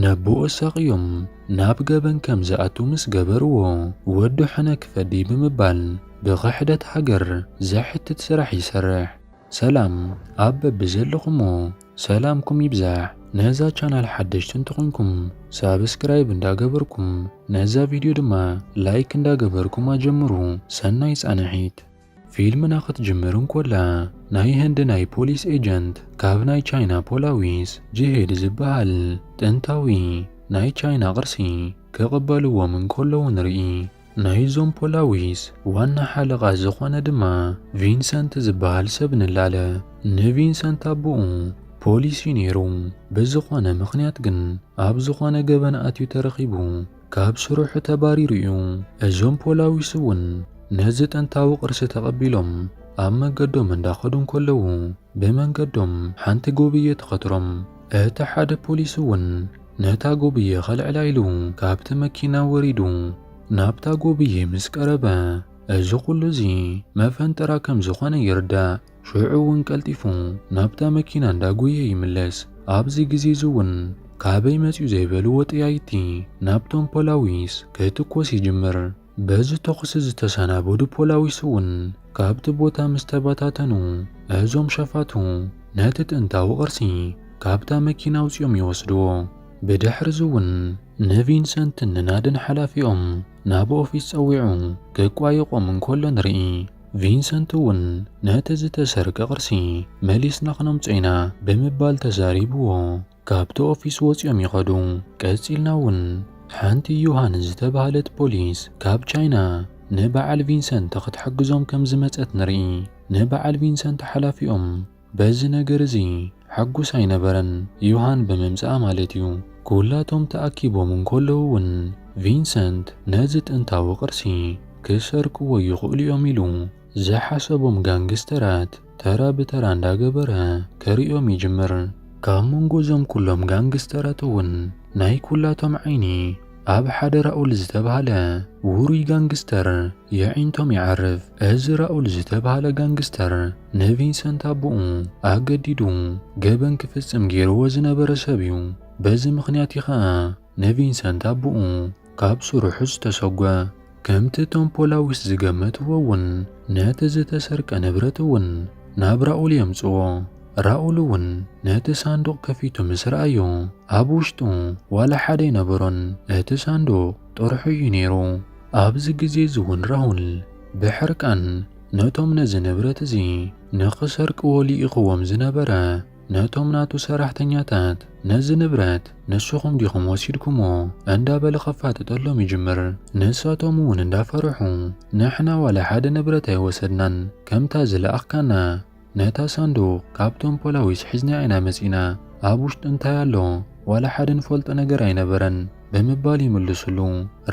ነቦኡ ኣሳቕዮም ናብ ገበን ከም ዝኣቱ ምስ ገበርዎ፣ ወዱ ሕነ ክፈዲ ብምባል ብኽሕደት ሃገር ዘሕትት ስራሕ ይሰርሕ። ሰላም ኣብ በብዘለኹሞ ሰላምኩም ይብዛሕ ነዛ ቻናል ሓደሽቲ እንተኾይንኩም ሳብስክራይብ እንዳገበርኩም ነዛ ቪድዮ ድማ ላይክ እንዳገበርኩም ኣጀምሩ ሰናይ ፃንሒት። ፊልምና ክትጅምር እንኮላ ናይ ህንዲ ናይ ፖሊስ ኤጀንት ካብ ናይ ቻይና ፖላዊስ ጅሄድ ዝበሃል ጥንታዊ ናይ ቻይና ቅርሲ ክቕበልዎም እንከለዉ ንርኢ። ናይዞም ፖላዊስ ዋና ሓለቓ ዝኾነ ድማ ቪንሰንት ዝበሃል ሰብ ንላለ። ንቪንሰንት ኣቡኡ ፖሊስ እዩ ነይሩ። ብዝኾነ ምኽንያት ግን ኣብ ዝኾነ ገበን ኣትዩ ተረኺቡ። ካብ ስርሑ ተባሪሩ እዩ። እዞም ፖላዊስ እውን ነዚ ጥንታዊ ቅርሲ ተቐቢሎም ኣብ መገዶም እንዳኸዱ እንከለዉ ብመንገዶም ሓንቲ ጎብየ ትኸትሮም። እቲ ሓደ ፖሊስ እውን ነታ ጎብየ ከልዕላ ኢሉ ካብቲ መኪና ወሪዱ ናብታ ጎብየ ምስ ቀረበ እዚ ኩሉ እዚ መፈንጠራ ከም ዝኾነ ይርዳእ። ሽዑ እውን ቀልጢፉ ናብታ መኪና እንዳጎየ ይምለስ። ኣብዚ ግዜ እዚ እውን ካበይ መፅዩ ዘይበልዎ ጠያይቲ ናብቶም ፖላዊስ ክትኮስ ይጅምር። በዚ ተኹሲ ዝተሰናበዱ ፖላዊስ እውን ካብቲ ቦታ ምስ ተበታተኑ እዞም ሸፋቱ ነቲ ጥንታዊ ቅርሲ ካብታ መኪና ኣውፂኦም ይወስድዎ። ብድሕሪ እዚ እውን ንቪንሰንትን ንናድን ሓላፊኦም ናብ ኦፊስ ፀዊዑ ክቋየቖም እንከሎ ንርኢ። ቪንሰንት እውን ነቲ ዝተሰርቀ ቅርሲ መሊስና ክነምጾ ኢና ብምባል ተዛሪብዎ ካብቲ ኦፊስ ወጺኦም ይኸዱ። ቀጺልና እውን ሓንቲ ዩሃን ዝተባህለት ፖሊስ ካብ ቻይና ንበዓል ቪንሰንት ክትሕግዞም ከም ዝመጸት ንርኢ። ንበዓል ቪንሰንት ሓላፊኦም፣ በዚ ነገር እዚ ሕጉስ ኣይነበረን፣ ዮሃን ብምምጽኣ ማለት እዩ። ኵላቶም ተኣኪቦም እንከለዉ እውን ቪንሰንት ነዚ ጥንታዊ ቅርሲ ክሰርቅዎ ይኽእሉ እዮም ኢሉ ዝሓሰቦም ጋንግስተራት ተራ ብተራ እንዳገበረ ከርእዮም ይጅምር። ካብ መንጎ እዞም ኵሎም ጋንግስተራት እውን ናይ ኵላቶም ዓይኒ ኣብ ሓደ ራኡል ዝተባህለ ውሩይ ጋንግስተር የዒንቶም ይዓርፍ። እዚ ራኡል ዝተባህለ ጋንግስተር ንቪንሰንት ኣቦኡ ኣገዲዱ ገበን ክፍጽም ገይርዎ ዝነበረ ሰብ እዩ። በዚ ምኽንያት እዩ ኸኣ ንቪንሰንት ኣቦኡ ካብ ስርሑ ዝተሰጎ። ከምቲ እቶም ፖላዊስ ዝገመትዎ እውን ነቲ ዝተሰርቀ ንብረት እውን ናብ ራኡል የምጽኦ። ራኡል እውን ነቲ ሳንዱቕ ከፊቱ ምስ ረኣዮ፣ ኣብ ውሽጡ ዋላ ሓደ ኣይነበሮን፣ እቲ ሳንዱቕ ጥርሑ እዩ ነይሩ። ኣብዚ ግዜ እዚ እውን ራኡል ብሕርቃን ነቶም ነዚ ንብረት እዚ ንኽሰርቅዎ ልኢኽዎም ዝነበረ፣ ነቶም ናቱ ሰራሕተኛታት ነዚ ንብረት ንስኹም ዲኹም ወሲድኩሞ እንዳበለ ከፋጥጠሎም ይጅምር። ንሳቶም እውን እንዳፈርሑ ንሕና ዋላ ሓደ ንብረት ኣይወሰድናን ከምታ ዝለኣኽካና ነታ ሳንዱቕ ካብቶም ፖላዊስ ሒዝናያ ኢና መጺእና ኣብ ውሽጢ እንታይ ኣሎ ዋላ ሓደ ንፈልጦ ነገር ኣይነበረን ብምባል ይምልስሉ።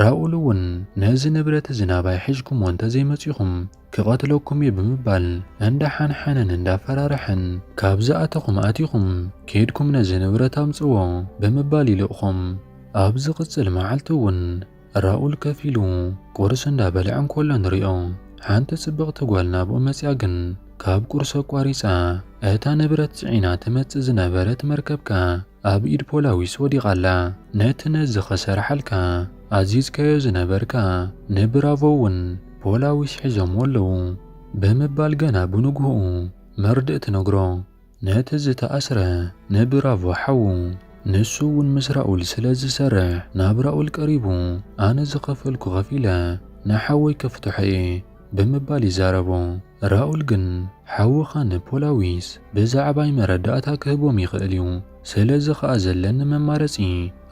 ራኡል እውን ነዚ ንብረት እዚ ናባይ ሒዝኩሞ እንተዘይመጺኹም ክቐትለኩም እዩ ብምባል እንዳሓንሓነን እንዳፈራርሐን ካብ ዝኣተኹም ኣቲኹም ኬድኩም ነዚ ንብረት ኣምጽዎ ብምባል ይልእኾም። ኣብ ዝቕጽል መዓልቲ እውን ራኡል ከፍ ኢሉ ቁርስ እንዳበልዐ እንከሎ ንሪኦ። ሓንቲ ጽብቕቲ ጓል ናብኡ መጺኣ ግን ካብ ቁርሲ ኣቋሪጻ እታ ንብረት ጽዒና ትመጽእ ዝነበረት መርከብ ከኣ ኣብ ኢድ ፖላዊስ ወዲቓ ኣላ። ነቲ ነዚ ከሰርሓልካ ኣዚዝካዮ ዝነበርካ ንብራቮ'ውን ፖላዊስ ሒዞምዎ ኣለዉ። ብምባል ገና ብንግሆኡ መርድእ ትነግሮ። ነቲ ዝተኣስረ ንብራቮ ሓዉ። ንሱ'ውን ምስ ራኡል ስለ ዝሰርሕ ናብ ራኡል ቀሪቡ ኣነ ዝኸፈልኩ ከፊለ ንሓወይ ከፍትሖ'የ። ብምባል ይዛረቦ። ራኡል ግን ሓውኻ ንፖላዊስ ብዛዕባይ መረዳእታ ክህቦም ይኽእል እዩ፣ ስለዚ ኸኣ ዘለኒ መማረጺ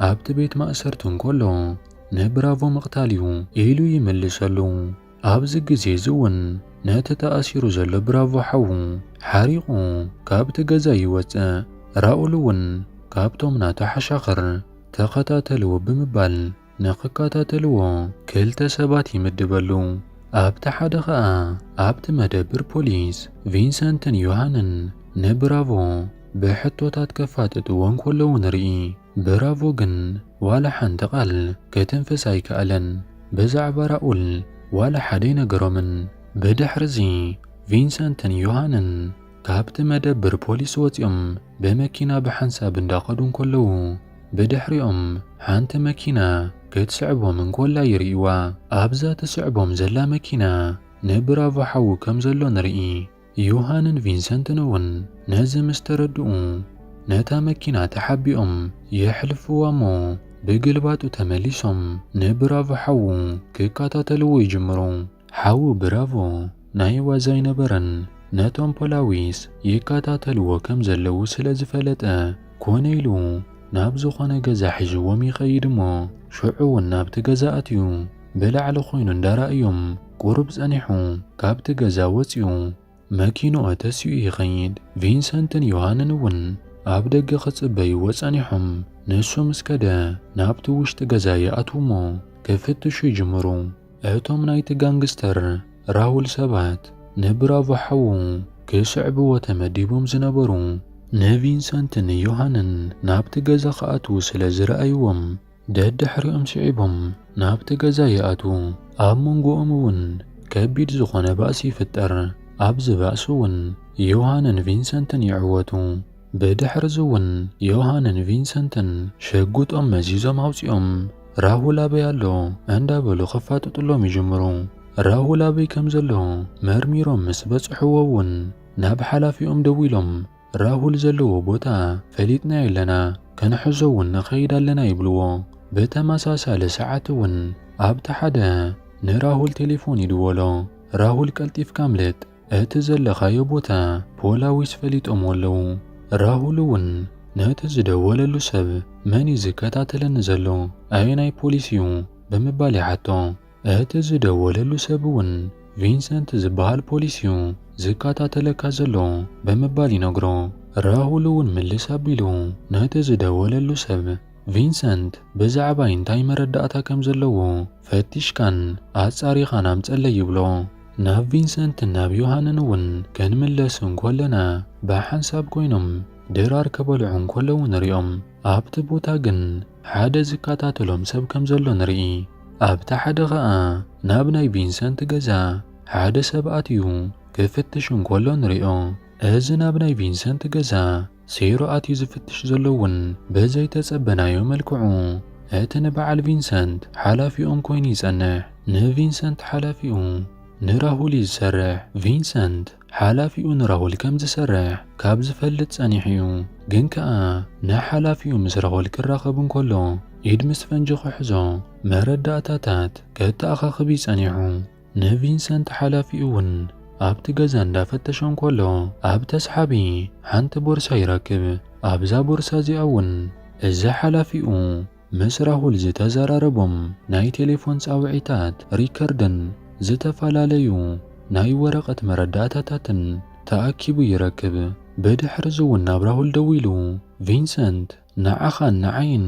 ኣብቲ ቤት ማእሰርቲ እንከሎ ንብራቮ ምቕታል እዩ ኢሉ ይምልሰሉ። ኣብዚ ግዜ እዚ እውን ነቲ ተኣሲሩ ዘሎ ብራቮ ሓዉ ሓሪቑ ካብቲ ገዛ ይወጽእ፣ ራኡል እውን ካብቶም ናቱ ሓሻኽር ተኸታተልዎ ብምባል ንኽከታተልዎ ክልተ ሰባት ይምድበሉ። ኣብቲ ሓደ ኸኣ ኣብቲ መደብር ፖሊስ ቪንሰንትን ዮሃንን ንብራቮ ብሕቶታት ከፋጥጥዎ እንከለዉ ንርኢ። ብራቮ ግን ዋላ ሓንቲ ቓል ክትንፍስ ኣይከኣለን። ብዛዕባ ራኡል ዋላ ሓደ ኣይነገሮምን። ብድሕርዚ ቪንሰንትን ዮሃንን ካብቲ መደብር ፖሊስ ወጺኦም ብመኪና ብሓንሳብ እንዳኸዱ እንከለዉ፣ ብድሕሪኦም ሓንቲ መኪና ክትስዕቦም እንኮላ ይርእይዋ። ኣብዛ ትስዕቦም ዘላ መኪና ንብራቮ ሓዉ ከም ዘሎ ንርኢ። ዩሃንን ቪንሰንትን'ውን ነዚ ምስ ተረድኡ ነታ መኪና ተሓቢኦም የሕልፍዋ'ሞ ብግልባጡ ተመሊሶም ንብራቮ ሓዉ ክከታተልዎ ይጅምሩ። ሓው ብራቮ ናይ ዋዛ ኣይነበረን ነቶም ፖላዊስ ይካታተልዎ ከም ዘለዉ ስለ ዝፈለጠ ኮነ ኢሉ ናብ ዝኮነ ገዛ ሒዥዎም ይከይድ እሞ ሽዑ ውን ናብቲ ገዛ ኣትዩ ብላዕሊ ኮይኑ እንዳራኣዮም ቁሩብ ጸኒሑ ካብቲ ገዛ ወጽዩ መኪንኡ ተሲኡ ይኸይድ፣ ቪንሰንትን ዮሃንን እውን ኣብ ደገ ክጽበይዎ ጸኒሖም። ንሱ ምስ ከደ ናብቲ ውሽጢ ገዛ ይኣትዉ እሞ ክፍትሹ ይጅምሩ። እቶም ናይቲ ጋንግስተር ራውል ሰባት ንብራቮ ሓዉ ክስዕብዎ ተመዲቦም ዝነበሩ ንቪንሰንትን ዮሃንን ናብቲ ገዛ ክኣትዉ ስለ ዝረኣይዎም ደድሕሪኦም ስዒቦም ናብቲ ገዛ ይኣትዉ። ኣብ መንጎኦም እውን ከቢድ ዝኾነ ባእሲ ይፍጠር። ኣብዚ ባእሲ እውን ዮሃንን ቪንሰንትን ይዕወቱ። ብድሕርዚ እውን ዮሃንን ቪንሰንትን ሽጉጦም መዚዞም ኣውፂኦም ራሁል ኣበይ ኣሎ እንዳበሉ ከፋጥጥሎም ይጅምሩ። ራሁል ኣበይ ከምዘሎ መርሚሮም ምስ በፅሕዎ እውን ናብ ሓላፊኦም ደዊሎም ራሁል ዘለዎ ቦታ ፈሊጥናዮ ኣለና፣ ክንሕዞ እውን ንኸይድ ኣለና ይብልዎ። ብተመሳሳሊ ሰዓት እውን ኣብቲ ሓደ ንራሁል ቴሌፎን ይድወሎ። ራሁል ቀልጢፍካ ኣምልጥ፣ እቲ ዘለኻዮ ቦታ ፖላዊስ ፈሊጦምዎ ኣለዉ። ራሁል እውን ነቲ ዝደወለሉ ሰብ መን እዩ ዝከታተለኒ ዘሎ፣ ኣየናይ ፖሊስ እዩ ብምባል ይሓቶ። እቲ ዝደወለሉ ሰብ እውን ቪንሰንት ዝበሃል ፖሊስ እዩ ዝከታተለካ ዘሎ ብምባል ይነግሮ። ራሁል እውን ምልስ ኣቢሉ ነቲ ዝደወለሉ ሰብ ቪንሰንት ብዛዕባይ እንታይ መረዳእታ ከም ዘለዎ ፈቲሽካን ኣጻሪኻን ኣምጸለይ ይብሎ። ናብ ቪንሰንትን ናብ ዮሃንን እውን ክንምለስ እንኮለና ብሓንሳብ ኮይኖም ድራር ክበልዑ እንከለዉ ንሪኦም። ኣብቲ ቦታ ግን ሓደ ዝከታተሎም ሰብ ከም ዘሎ ንርኢ። ኣብቲ ሓደ ኸኣ ናብ ናይ ቪንሰንት ገዛ ሓደ ሰብ ኣትዩ ክፍትሽ እንከሎ ንሪኦ። እዚ ናብ ናይ ቪንሰንት ገዛ ሴሮ ኣትዩ ዝፍትሽ ዘሎ እውን ብዘይተጸበናዮ መልክዑ እቲ ንበዓል ቪንሰንት ሓላፊኦም ኮይኑ ይጸንሕ። ንቪንሰንት ሓላፊኡ ንራሁል እዩ ዝሰርሕ። ቪንሰንት ሓላፊኡ ንራሁል ከም ዝሰርሕ ካብ ዝፈልጥ ጸኒሑ እዩ። ግን ከኣ ን ሓላፊኡ ምስ ራሁል ክራኸብ እንከሎ ኢድ ምስ ፈንጂ ክሕዞ መረዳእታታት ከተኣኻኽብ እዩ ጸኒሑ። ን ቪንሰንት ሓላፊኡ እውን ኣብቲ ገዛ እንዳ ፈተሾ እንከሎ ኣብ ተስሓቢ ሓንቲ ቦርሳ ይረክብ። ኣብዛ ቦርሳ እዚኣ እውን እዚ ሓላፊኡ ምስ ራሁል ዝተዘራረቦም ናይ ቴሌፎን ጻውዒታት ሪከርድን ዝተፈላለዩ ናይ ወረቐት መረዳእታታትን ተኣኪቡ ይረክብ። ብድሕርዚ'ውን ናብ ራሁል ደዊሉ፣ ቪንሰንት ንዓኻን ንዓይን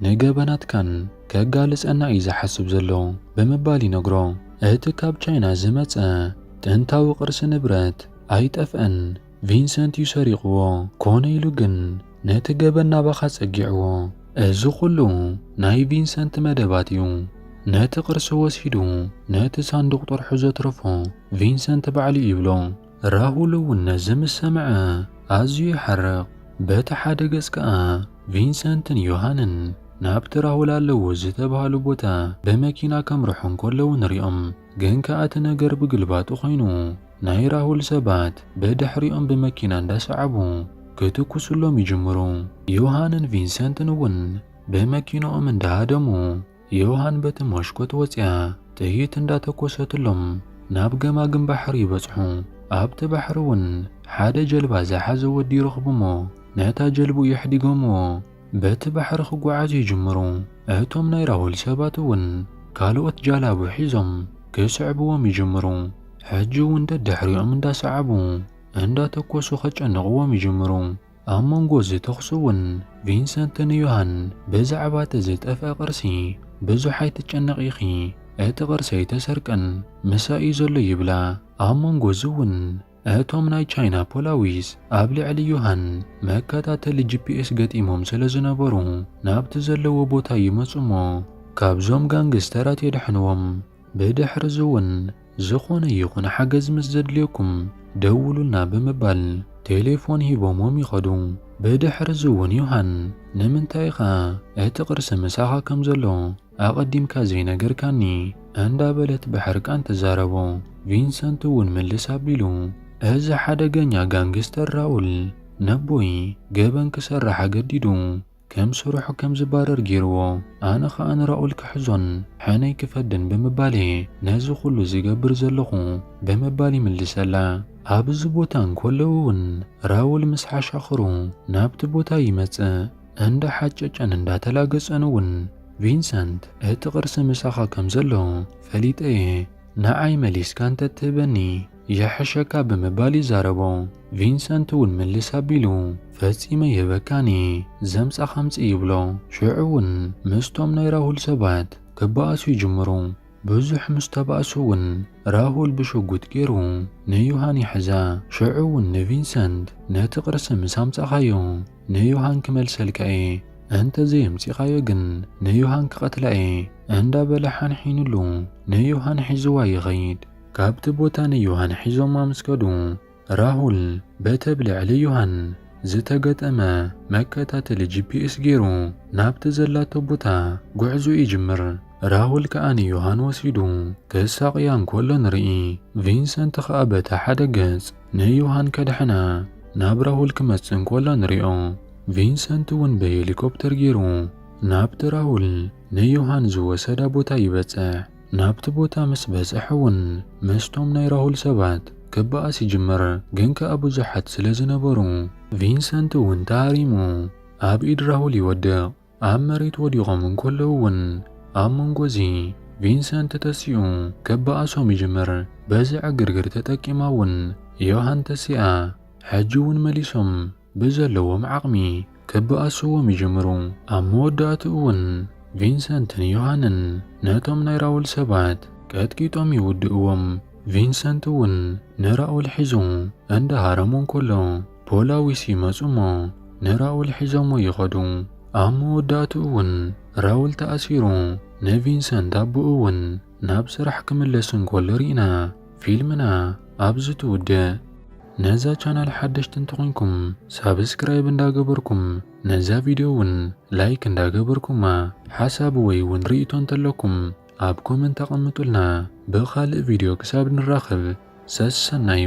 ንገበናትካን ከጋልጸና እዩ ዝሓስብ ዘሎ ብምባል ይነግሮ። እቲ ካብ ቻይና ዝመጸ ጥንታዊ ቅርሲ ንብረት ኣይጠፍአን። ቪንሰንት እዩ ሰሪቕዎ ኮነ ኢሉ ግን ነቲ ገበን ናባኻ ጸጊዕዎ። እዚ ኩሉ ናይ ቪንሰንት መደባት እዩ። ነቲ ቅርሲ ወሲዱ ነቲ ሳንዱቕ ጥርሑ ዘትረፎ ቪንሰንት ባዕሉ እዩ ይብሎ። ራሁል እውን ነዚ ምስ ሰምዐ ኣዝዩ ይሓርቕ። በቲ ሓደ ገጽ ከኣ ቪንሰንትን ዮሃንን ናብቲ ራሁል ኣለዎ ዝተባህሉ ቦታ ብመኪና ከምርሑ እንከለዉ ንሪኦም። ግን ከኣ እቲ ነገር ብግልባጡ ኮይኑ ናይ ራሁል ሰባት ብድሕሪኦም ብመኪና እንዳሰዓቡ ክትኩሱሎም ይጅምሩ። ዮሃንን ቪንሰንትን እውን ብመኪንኦም እንዳሃደሙ ዮሃን በቲ ሞሽኮት ወጽያ ጥይት እንዳተኮሰትሎም ናብ ገማግም ባሕሪ ይበጽሑ። ኣብቲ ባሕሪ እውን ሓደ ጀልባ ዝሓዘ ወዲ ይረኽቡሞ ነታ ጀልብኡ የሕዲጎምዎ። በቲ ባሕሪ ክጓዓዙ ይጅምሩ። እቶም ናይ ራሁል ሰባት እውን ካልኦት ጃላቡ ሒዞም ክስዕብዎም ይጅምሩ። ሕጂ እውን ደድሕሪኦም እንዳሰዓቡ እንዳተኮሱ ከጨንቕዎም ይጅምሩ። ኣብ መንጎ እዚ ተኹሲ እውን ቪንሰንት ንዮሃን ብዛዕባ እቲ ዝጠፍኣ ቅርሲ ብዙሕ ኣይትጨነቒ ኢኺ፣ እቲ ቅርሲ ኣይተሰርቀን ምሳይ እዩ ዘሎ ይብላ። ኣብ መንጎ እዚ እውን እቶም ናይ ቻይና ፖላዊስ ኣብ ልዕሊ ዮሃን መከታተሊ ጂፒኤስ ገጢሞም ስለ ዝነበሩ ናብቲ ዘለዎ ቦታ ይመጹ'ሞ ካብዞም ጋንግስተራት የድሕንዎም። ብድሕርዚ'ውን ዝኾነ ይኹን ሓገዝ ምስ ዘድልየኩም ደውሉልና ብምባል ቴሌፎን ሂቦምዎም ይኸዱ። ብድሕርዚ'ውን ዮሃን ንምንታይ ኢኻ እቲ ቅርሲ ምሳኻ ከም ዘሎ ኣቐዲምካ ዘይነገርካኒ እንዳ በለት ብሕርቃን ትዛረቦ። ቪንሰንት እውን ምልስ ኣቢሉ እዚ ሓደገኛ ጋንግስተር ራኡል ነቦይ ገበን ክሰርሕ ኣገዲዱ ከም ስርሑ ከም ዝባረር ገይርዎ ኣነ ኸኣ ንራኡል ክሕዞን ሕነይ ክፈድን ብምባል እየ ነዚ ኩሉ ዝገብር ዘለኹ ብምባል ይምልሰላ። ኣብ እዚ ቦታ እንኮሎ እውን ራውል ምስ ሓሻኽሩ ናብቲ ቦታ ይመጽእ። እንዳ ሓጨጨን እንዳ ተላገጸን እውን ቪንሰንት እቲ ቅርሲ ምሳኻ ከም ዘሎ ፈሊጠ እየ ንዓይ መሊስካ እንተ ትህበኒ ይሕሸካ ብምባል ይዛረቦ። ቪንሰንት እውን ምልስ ኣቢሉ ፈጺመ ይህበካን እየ ዘምጻኻ ኣምጽእ ይብሎ። ሽዑ እውን ምስቶም ናይ ራሁል ሰባት ክበኣሱ ይጅምሩ። ብዙሕ ምስ ተባእሱ እውን ራሁል ብሽጉጥ ገይሩ ንዩሃን ይሕዛ። ሽዑ እውን ንቪንሰንት ነቲ ቅርሲ ምስ ኣምጻኻዮ ንዮሃን ክመልሰልካ እየ እንተ ዘየምጺኻዮ ግን ንዮሃን ክቐትላ እየ እንዳ በለ ሓንሒኑሉ ንዮሃን ሒዝዋ ይኸይድ። ካብቲ ቦታ ንዮሃን ሒዞማ ምስ ከዱ ራሁል በቲ ኣብ ልዕሊ ዮሃን ዝተገጠመ መከታተሊ ጂፒኤስ ገይሩ ናብቲ ዘላቶ ቦታ ጉዕዞ ይጅምር። ራሁል ከኣ ንዮሃን ወሲዱ ክሳቕያ እንከሎ ንርኢ። ቪንሰንት ከኣ በታ ሓደ ገጽ ንዮሃን ከድሕና ናብ ራሁል ክመጽእ እንኮሎ ንሪኦ። ቪንሰንት እውን ብሄሊኮፕተር ጌሩ ናብቲ ራሁል ንዮሃን ዝወሰዳ ቦታ ይበጽሕ። ናብቲ ቦታ ምስ በጽሐ እውን ምስቶም ናይ ራሁል ሰባት ክበኣስ ይጅምር ግን ከኣ ብዙሓት ስለ ዝነበሩ ቪንሰንት እውን ተሃሪሙ ኣብ ኢድ ራሁል ይወድቕ። ኣብ መሬት ወዲቖም እንከለዉ እውን ኣብ መንጎ እዚ ቪንሰንት ተሲኡ ክበኣሶም ይጅምር። በዚ ዕግርግር ተጠቂማ እውን ዮሃን ተሲኣ። ሕጂ እውን መሊሶም ብዘለዎም ዓቕሚ ክበኣስዎም ይጅምሩ። ኣብ መወዳእትኡ እውን ቪንሰንትን ዮሃንን ነቶም ናይ ራውል ሰባት ቀጥቂጦም ይውድእዎም። ቪንሰንት እውን ንራውል ሒዙ እንዳሃረሙ እንከሎ፣ ፖላዊስ ይመጹ እሞ ንራውል ሒዞሞ ይኸዱ። ኣብ መወዳእትኡ እውን ራውል ተኣሲሩ ንቪንሰንት ኣቦኡ እውን ናብ ስራሕ ክምለስ እንከሎ ሪእና ፊልምና ኣብዚ ትውድእ። ነዛ ቻናል ሓደሽቲ እንተኾይንኩም ሳብስክራይብ እንዳገበርኩም ነዛ ቪድዮ እውን ላይክ እንዳገበርኩማ ሓሳብ ወይ እውን ሪኢቶ እንተለኩም ኣብ ኮመንት ኣቐምጡልና ብኻልእ ቪድዮ ክሳብ ንራኸብ ሰሰናዩ።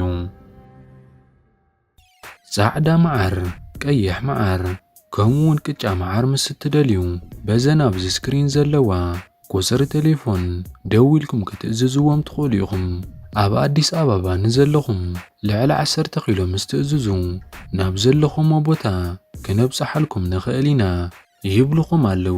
ጻዕዳ መዓር፣ ቀይሕ መዓር ከምኡውን ቅጫ መዓር ምስ እትደልዩ በዘን ኣብዚ ስክሪን ዘለዋ ቁጽሪ ቴሌፎን ደዊልኩም ክትእዝዝዎም ትኽእሉ ኢኹም። ኣብ ኣዲስ ኣበባ ንዘለኹም ልዕሊ 10 ኪሎ ምስ ትእዝዙ ናብ ዘለኹሞ ቦታ ክነብጽሓልኩም ንኽእል ኢና ይብልኹም ኣለዉ።